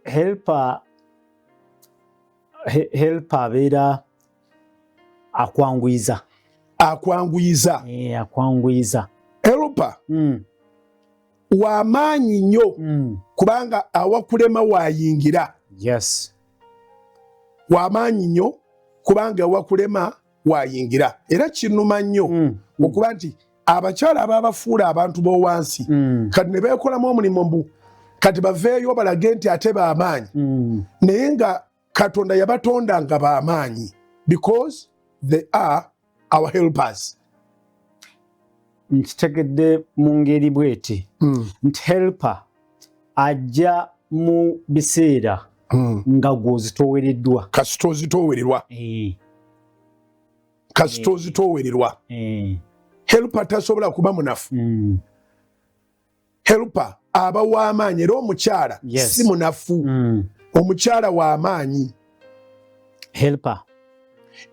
helper helper abeera akwanguyiza akwanguyiza eh, akwanguyiza helper mm. wamaanyi nnyo mm. kubanga awakulema wayingira yes wamaanyi nnyo kubanga awakulema waayingira era kinnuma nnyo mm. okuba nti abakyala ababafuula abantu b'owansi mm. kati ne beekolamu omulimu mbu kati baveeyo balage nti ate b'amaanyi mm. naye nga katonda yabatonda nga b'amaanyi because they are our helpers nkitegedde mu ngeri bweti mm. nti helper ajja mu biseera mm. nga gwozitowereddwa kasita ozitowererwa eh. kasita eh. ozitowererwa eh. helper tasobola kuba munafu mm. helper aba w'amaanyi era omukyala yes. si munafu mm. omukyala w'amaanyi helper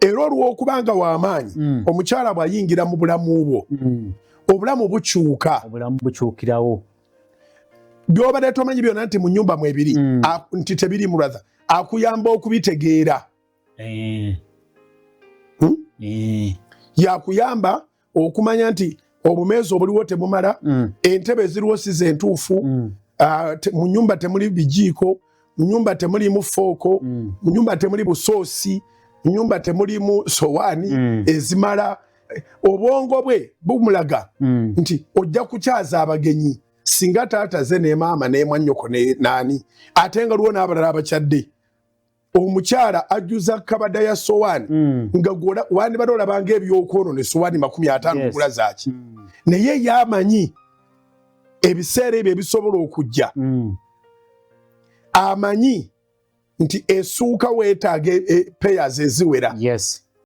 era olw'okuba nga w'amaanyi mm. omukyala bw'ayingira mu bulamu bwo mm. obulamu bukyuka obulamu bukyukirawo byobadde tomanyi byona nti mu nyumba mwebiri mm. nti tebiri muratha akuyamba okubitegeera eh. hmm? eh. yakuyamba okumanya nti obumeezi obuliwo temumala mm. entebe eziriwo si zentuufu mm. ah, mu nyumba temuli bijiiko mu nyumba temulimu fooko mm. mu nyumba temuli busoosi mu nyumba temulimu sowaani mm. ezimala eh, obwongo bwe bumulaga mm. nti ojja kukyaza abagenyi singa taata ze ne maama nemwanyoko ne naani ate nga luwo n'abalala abakyadde omukyala ajjuza kabada ya sowani mm. nga wandibadde olabanga ebyokwonona esowani makumi atano yes. gula zaki mm. naye yamanyi ebiseera ebyo ebisobola okujja mm. amanyi nti esuuka wetaaga e, e, payers eziwera yes.